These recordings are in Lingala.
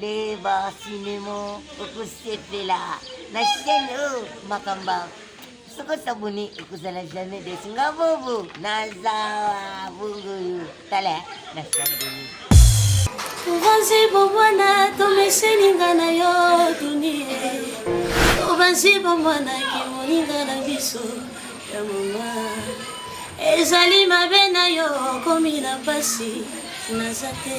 leba sinemo okosepela na chaîne oyo makamba soko sabone ekozala jamais des nga bobo nazawa bongo yo tala na sabone obanzi bomwana tomeseninga na yo dunie obanzi bomwana kimoninga na biso ya mama ezali mabe na yo okomi na mpasi naza te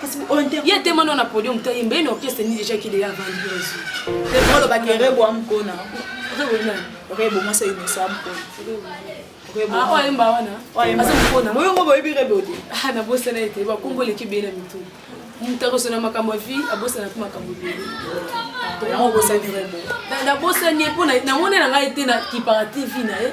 kasi ye te mano na podium te yemba ye na orchestre ni déjà kili ya vandi yesu olo ba kere bo am kona rebo na rebo mo sa ino sa am kona rebo ah oye mba wana oye mba kona mo yongo bo ibi rebo te ah na bosa na ete ba kombo le kibela mitu moto akosana makambo ya vie abosana mpe makambo ebele yango obosani rebo nabosani ye mpo namoni na ngai te na kipara tv na ye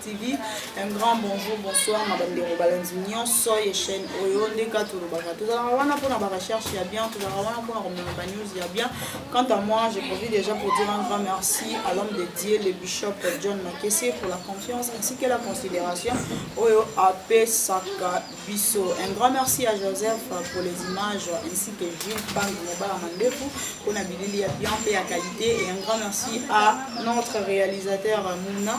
TV un grand bonjour bonsoir na bandeko balanzi nyonso ye chaîne oyo nde ka tolobaka tozalaka wana mpona barecherche ya bien tozalaka wana mpona komema banews ya bien quant à moi je profite déjà pour dire un grand merci à l'homme de dieu le bishop john makese pour la confiance ainsi que la considération oyo apesaka biso un grand merci à joseph pour les images ainsi que jules bangi mobala mandefu mpona bilili ya bien mpe ya qualité et un grand merci à notre réalisateur mouna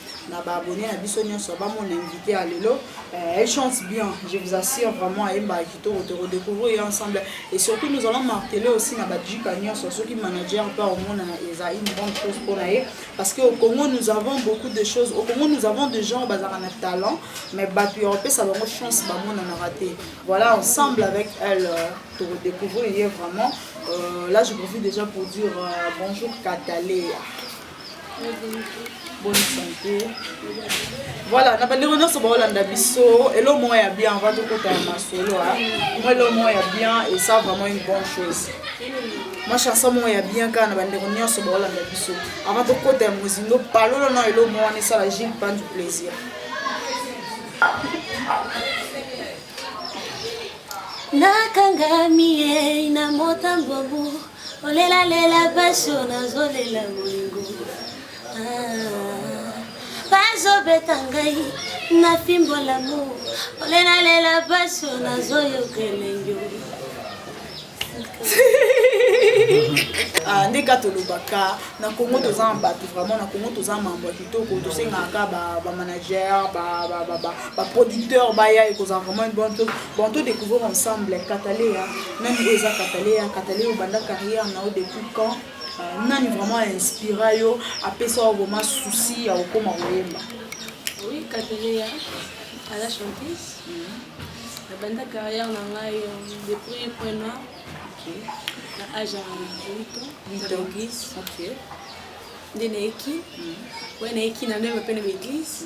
na ba abonné na biso nyonso ba mon invité ya lelo euh, elle chante bien je vous assure vraiment ayembaka kitoko toko découvrir ye ensemble et surtout nous allons martele aussi na bajika nyonso soki manager mpe omona eza une bonne chose mpo na ye parce que au congo nous avons beaucoup de choses au congo nous avons des gens bazalaka na talent mais bato ya kopesa bango chance bamonanaka te voilà ensemble avec elle euh, toko découvrir ye vraiment euh, là je profite déjà pour dire euh, bonjour katale bonne santé voilà na bandeko nyonso baolanda biso elo moko ya bien va tokota ya masolo mwa elo moko ya bien esa vraiment une bonne chose mwa chanson moko ya bien kaka na bandeko nyonso baolanda biso avant tokota ya mozindo palolo na elo moko wana esala gile pan du plaisir nakangami ye na motambobu Olela lela passion nazolela bolingo ah, bazobeta ngai na fimbo lamo olela lela passion nazoyoka elengi ah, ndenge kaka tolobaka na congo toza na bato vraiment na congo toza mambo ya kitoko tosengaka bamanager baproducteur baya ekozala vraiment une bonne chose Bon to découvrir ensemble Kataleya nani oyo eza Kataleya Kataleya obanda carrière na yo depuis quand euh, nani vraiment inspira yo apesa yo vraiment souci ya kokoma koyemba oui Kataleya aza chanteuse mm. nabanda carrière na ngai euh, depuis prena na age ya 8 ans nde nayeki oyo nayeki na nde mapene baeglise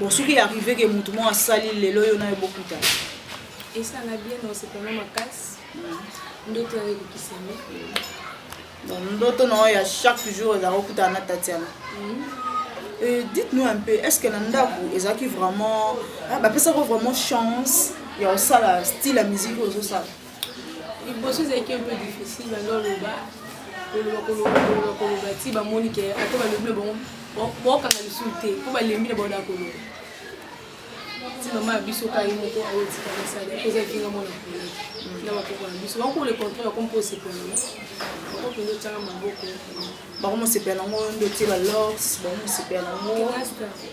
Bon soki ya arrive ke mutu moko asali lelo yo nayo bokutana. Esanga bien na osepana makasi. Ndoto ya ebikisami. Donc ndoto na ya chaque jour ezalaka okutana na Tatiana. Euh, dites-nous un peu, est-ce que na ndako ezalaki vraiment ah, bapesaka vraiment chance ya kosala style ya musique oyo ozosala liboso ezalaki un peu difficile banda oloba koloba koloba koloba koloba ti bamoni ke ata balobi na bango bokanga lisusu te mpo balembi na bango na koloba ti mama ya biso kai moko aotika masala mpo eza vinga mwana kolo na bakoko na biso bakoko le contraire bako mpo osepela bako mpenza otyanga maboko bango mosepela nango nde otie ba lors bango mosepela nango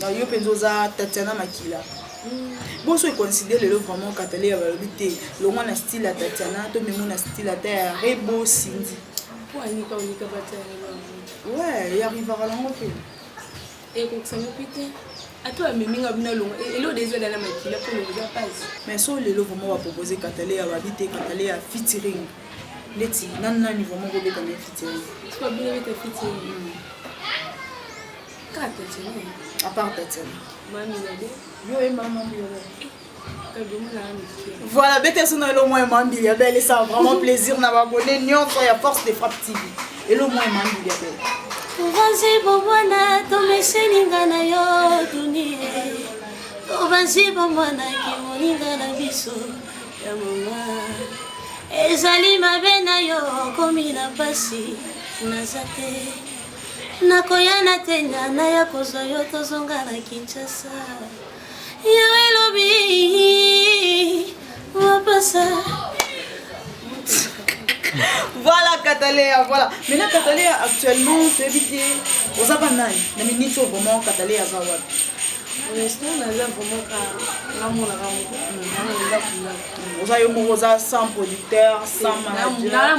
Na yo penza oza Tatiana makila. Boso e considère lelo vraiment Kataleya balobi te longwa na style ya Tatiana to memo na style ata ya Rebo Cindy. Mpo anika onika batali bango. Ouais, ya rivaka nango mpe. Ekokisa mopi te. Ato amemi nga bina longo. Elo dezo dana makila mpo longo za pasi. Mais so lelo vraiment ba proposer Kataleya babi te Kataleya featuring. Ndeti nani nani vraiment kobeta na featuring. Siko bino beta featuring. Mm. Kaka Petunie, à part Petunie. Mami Nabe, yo et maman Biolo. Voilà, bete suna elo moyen mambi ya belle ça vraiment plaisir na abonné nyonso ya force de frappe TV. Elo moyen mambi ya belle. Tubanzi bomwana tomeseni nga na yo dunie. Tubanzi bomwana kimoninga na biso ya mama. Ezali mabe na yo okomi na pasi naza te. nakoya na tenga naya kozwa yo tozonga na kinshasa yawe elobi wapasa voilà katalea voilà maintenant katalea actuellement toyebi te oza banani na miniti oyo vraiment katalea aza wapi honnêtement naza vraiment ka namonaka moko mm. naza yo moko oza sans producteur sans manager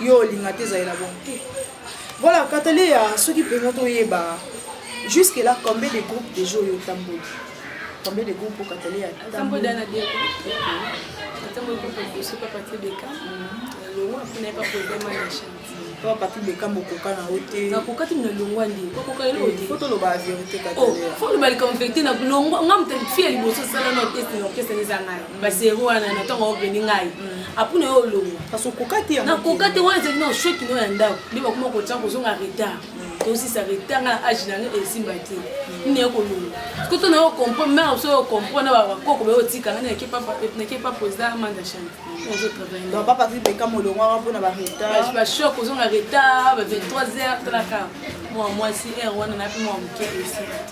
yo olinga te ezalela bongo te voilà kataleya soki mpenza toyeba jusque là combien de groupe deja oyo otamboli combien de groupe okataleya po papi bekam okoka na yo te nakokaki na longwa nde okoka eloko te fo toloba verité kataleya fo loba likambo verité na longwa nga moto fi ya liboso sala na orchestre na orchestre eza ngai baserie wana na ntango obendi ngai apres na yo olongwa kasi okoka te na koka te wana ezali na oshoki no ya ndako nde bakoma kotya kozonga retard tosisa retard ngai na age na ngai esimba te neye kolongwa koto na yo comprendre mare so yo comprendre na bakoko bayo otika ngai nake papa eza manda chane ozo travaille papa vibeka molongwaka mpona baretard bashok ozonga retard ba 23 heures talaka mwa mwasi heure wana nape mwa moke esimba te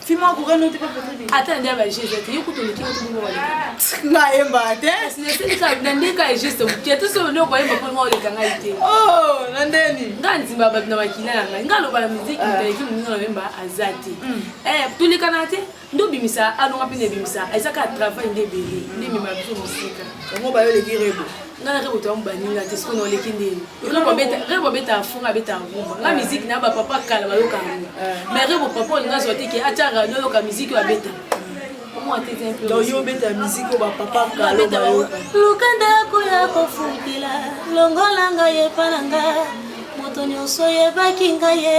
Fima akoka note pa photo de. Ata ndia ba jeu zete yoko to liki to bongo wala. Na yemba te. Sina sina ka na ndeka e jeu mu kieto so no ko yemba polo ngole kanga ite. Oh, na ndeni. Nga nzimba ba na makina na ngai. Nga loba na musique ah. nda yiki munyo na yemba azati. Mm. Eh, to lika na te. Ndo bimisa alonga pene bimisa. Ezaka travail ndebele. Ndemi mabiso musika. Ngo ba yo leki rebo. nga na rebo toyamu baninga te sikoyo naoleki ndeni rebo abetaka fonga abetaka rumba nga miziki na bapapa kala bayoka yango mais rebo papa olinga azwa te ke atya radio ayoka miziki oyo abeta yo obeta miziki oyo bapapa kaloka luka ndako ya kofukila longola ngai epa na nga moto nyonso oyebaki ngai ye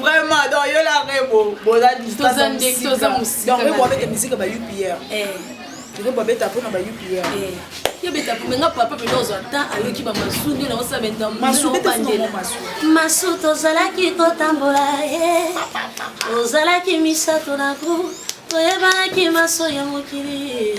vraiment donc yo la rebo boza distaza ndeki toza musika donc rebo abeta musique ba UPR eh rebo abeta pona ba UPR eh yo beta pona nga papa pe dozo ata ayoki ba masu nde na osa benda masu beta bandela masu tozalaki kotambola eh ozalaki misato na groupe toyebanaki maso ya mokili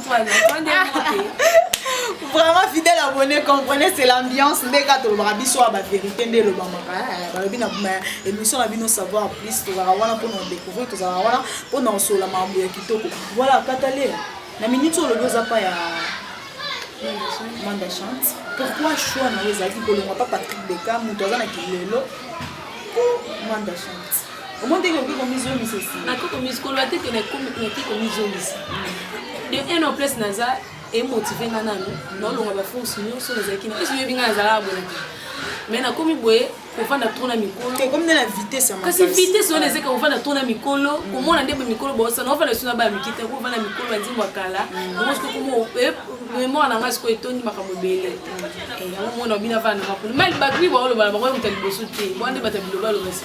vraiment fidèle abonné comprenez c'est l'ambiance nde kaka tolobaka biso ya bavérité nde elobamaka eh, balobi na émission na bino savoir plus tozalaka wana mpona kodécouvrir tozalaka wana mpona kosolola makambo ya kitoko voilà katale na minute oyo olobi oza pa ya manda chante pourquoi choix na yo ezalaki kolongwa pa patrick beka moto aza na kilelo manda chante omoni ndenge okoki komizongisa esi nakoki komizikolola te te nakoki komizongisa de un en plus naza emotive nga nanu naolonga baforce nyonso nazalaki na esi oyebi nga nazalaka boye na te mais nakomi boye kovanda trop na mikolo kasi vitesse wana ezeka kovanda trop na mikolo komona nde boye mikolo bosana ovanda biso na baya miki te kovanda mikolo ya nzembo ya kala yango soki komo memoire na ngai sikoyo etondi makambo ebele yango mona bino avanda makolo mai bato mi baolobana bango moto ya liboso te bwana nde bato ya bilobaloba si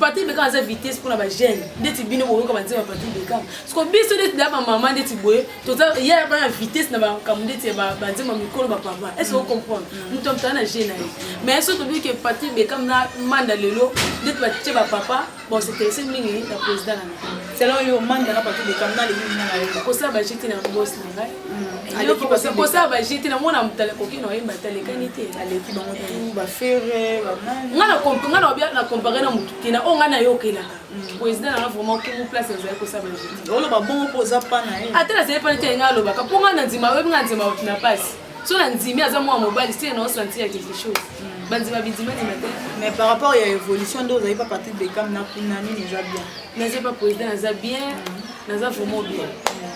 Patrick Beckham aza vitesse mpona ba jeune ndeti bino boyoka banzembo ya Patrick Beckham siko biso ndeti na bamama ndeti boye toza ya bana vitesse na makambo ndeti ya banzembo ya mikolo bapapa ese ocomprendre mm. moto amotala na je na ye mais soki tobi ke Patrick Beckham na manda lelo ndeti batie bapapa bosinteresse mingi na président na selon yo manda na Patrick Beckham na leli nini na yo kosala bajeti na bosi aleki kosala baje te namona motala koki na oyemba te alekani te aleki bango tu eh. bafere banani nga na compare na motu te na oyo nga nayokelaka mm. président nanga vraiment kongo place nazali kosala baje te oloba bongo mpo oza pana ye ata nazali pana te nga alobaka mpo nga na ndima oyebi nga ndima na pasi so na ndimi aza mwana mobali se na osanti ya quelque chose mm. bandima bidimandima te mais par rapport ya évolution nde ozali pa partir de cam na kuna nini eza bien naza pa président naza bien mm. naza vraiment bien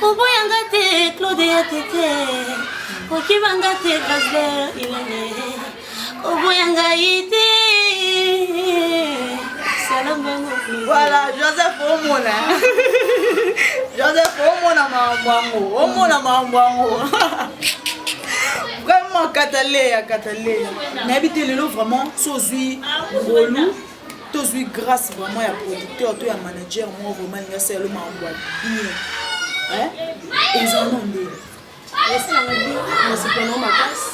koboya nga te claude ya tete kokiba nga te gasler ilene koboya ngai te voilà joseph omona joseph omona makambo yango omona makambo yango vraiment kataleya kataleya nayebi te lelo vraiment so ozwi ngolu tozwi grâce vraiment ya producteur to ya manager moko vraiment alingi asala yo makambo ya bien eza no nde esalanga bi nasepana makasi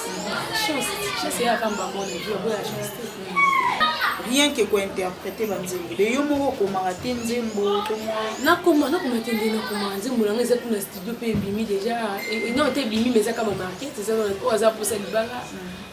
chance chance eyaka mbamona boya chance te rien que kointerprete banzembo de yo moko okomaka te nzembo nakoma nakoma te nde nakoma nzembo nanga eza kuna studio mpe ebimi déjà non te ebimi mais eza kama market eza oyo aza mposa libanga mm.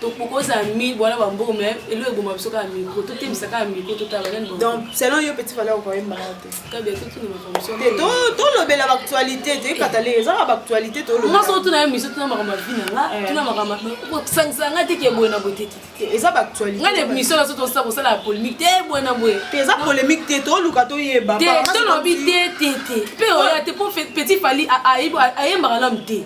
tokokoza mi bwana ba mbongo mais elo eboma biso kaka micro totembisa kaka micro totala nani donc selon yo petit valeur okoyembaka te kabe totuna makambo so te tolobela baactualité te ekatale eza na baactualité tolobela nga so tuna ye miso tuna makambo ya vie na nga eh. tuna makambo kosangisa nga te ke boye na boye te te eza baactualité nga na miso na so tosa kosala ya polémique te boye na boye te eza polémique te toluka toyeba te tolobi te te te mpe oya te mpo petit fali ayembaka nanu te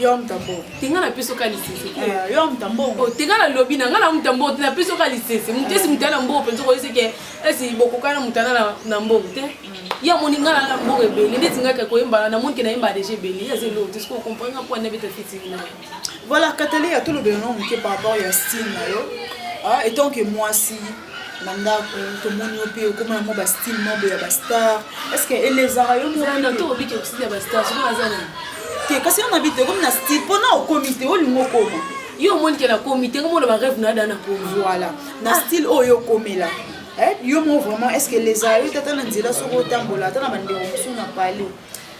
yo mtambo tenga na peso ka lisese eh, yo mtambo o oh, tenga na lobi na nga na mtambo na peso ka lisese moto esi moto ya na mbongo mpenza okoyesi ke esi bokoka na moto ana na mbongo te mm. ye amoni nga na mbongo ebele ndeti ngaka koyembana na monike nayemba deja ebele ye azeli oyo te sikoyo comprendre nga mpo anabeta fitini naye voilà katali ya tolobela na moke par rapport ya style na yo ah, etant ke mwasi na ndako tomoni yo mpe okoma yango ba style moko ya ba star est ce que elezaka yo te kasi yo na bite okomi na style mpo na okomi te olingi okoma yo omoni ke nakomi te komona bareve na ada nakomi voilà na ah. style oyo okomela eh, yo mo vraiment est ce que elezaka yo te ata na nzela soki otambola ata na bandeko mosusu na pale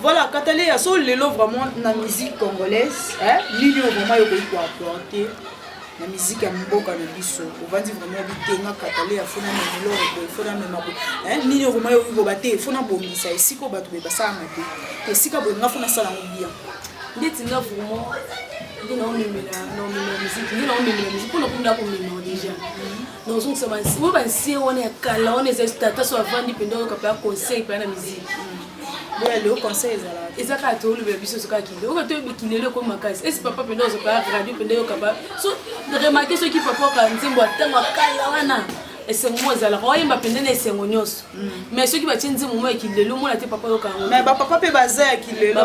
Voilà, Kataleya, so lelo vraiment na musique congolaise, hein, nini oyo vraiment yokoki ko apporter na musique ya mboka na biso. Ovandi vraiment bitenga Kataleya, fona na lelo ko fona na mabo. Hein, nini oyo vraiment yokoki ko bate, fona bongisa esiko bato be basala mabe. Esika bo nga fona sala ngo bien. Ndeti nga vraiment ndina omemela na omemela musique, ndina omemela musique, pona kunda komema déjà. nazongisa bansiwa bansie wana ya kala wana eza tata so avandi mpenza oyoka mpe conseil mpe na miziki boya leo conseil ezala eza kaka tolobela biso soka kinde oyo toyebi kindelo ekomi makasi esi papa mpenza ozoka radio mpenza oyoka ba so remake soki papa oka nzembo ya ntango akala wana esengo moko ezalaka oyemba mpenza na esengo nyonso mm. mais soki batie nzembo moko ya kilelo omona te papa oyoka yango mais bapapa mpe baza ya kilelo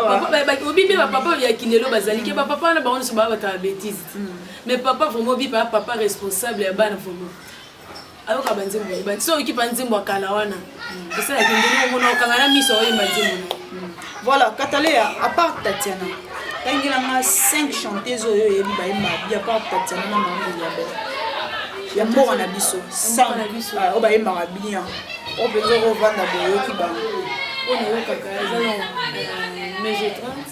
obibi bapapa ya kilelo bazali ke bapapa wana bango nyonso baa batala betise mm. Mais papa vraiment obipa ya papa responsable ya bana vraiment ayoka banzembo oyebani so oyoki mpa nzembo ya kala wana esalaki ndenge omona okanga na miso oyemba nzembo na voilà kataleya apart tatiana tangela nga 5 chanteuse oyo oyebi bayemba ya part tatiana na mamu ya bel ya mboka na biso ah, oyo bayembaka bien oyo mpenza okovanda boyoki bango oyo nayokaka eza na euh, mege 30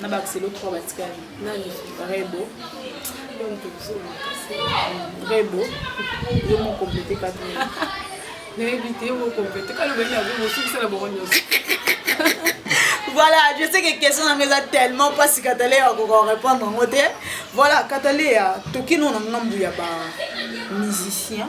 na ba xelo 3 batikali nani rebo rebo yo mo complete kati nayebi te yo mo complete kati obeli na rebo sukisala bongo nyonso voilà je sais que question na nga eza tellement mpasi katale ya koka korépondre yango te voilà katale ya tokino na ngambu ya ba musicien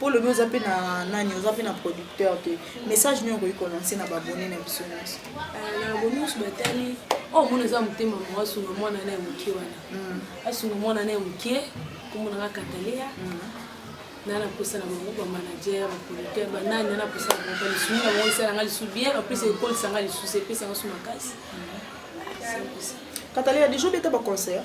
po lobi oza pe na nani oza pe na producteur te message nini okoki kolanse na babone na biso nyonso euh, na babone nyonso batali oyo oh, mona eza motema moko asunga mwana na ya moke wana hmm. asunga mwana na ya moke komonaka kataleya hmm. na naposa na bango bamanager baproducteur banani na naposa na bango balisumi na bango esalanga lisu bien apesa ekolisanga lisusu epesanga su makasi hmm. kataleya deja obeta baconcert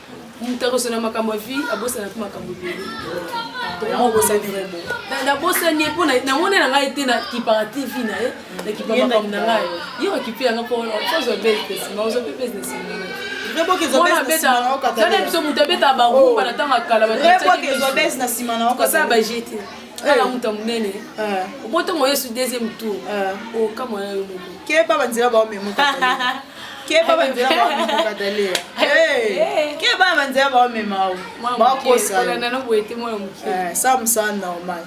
moto akosana makambo ya vie abosana mpe makambo ebele nabosani ye mpo namoni na ngai te nakipaka tv na ye nakipa makambo na ngai ye okipe yanga mpo ozwa business ma ozwa mpe business tala biso moto abetaka bagumba na ntango ya kala basala baje te kala moto ya monene obotongo yesu deuxième tour okamwana yo moko keba banzela baomemoka keba banzela baomibuka dalia keba banzela baomema o bakosasaa mosala normal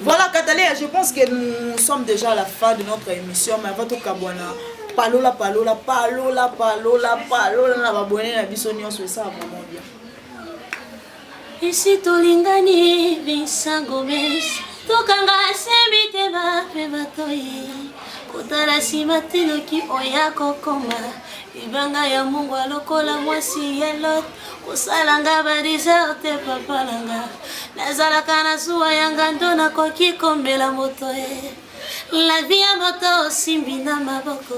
voilà katalia je pense que nous sommes déjà à la fin de notre émission mais avant tokabwana palola palola palola palola palola na babone na biso nyonso esala vraiment bien Esi tolingani binsango mes tokanga se mitema mpe matoi kotala nsima te noki oya kokoma libanga ya mungwa lokola mwasi ya lot kosalanga badeserte papalanga nazalaka na zuwa ya ngando nakoki komela moto ye lavi ya moto osimbi na maboko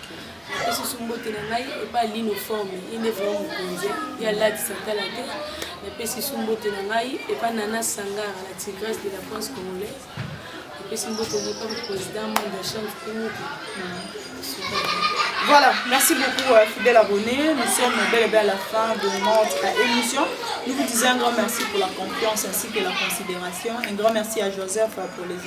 napesi mbote na ngai epai lino forme ye nde vraimen mokonzi ye alatisa tala te napesi su mbote na ngai epai nana sangara la tigresse de la france congolaise napesi mbote na epai président monde ya chambre kumuki Voilà, merci beaucoup euh, fidèle abonné. Nous sommes bel et bien à la fin de notre émission. Nous vous disons un grand merci pour la confiance ainsi que la considération. Un grand merci à Joseph euh, pour les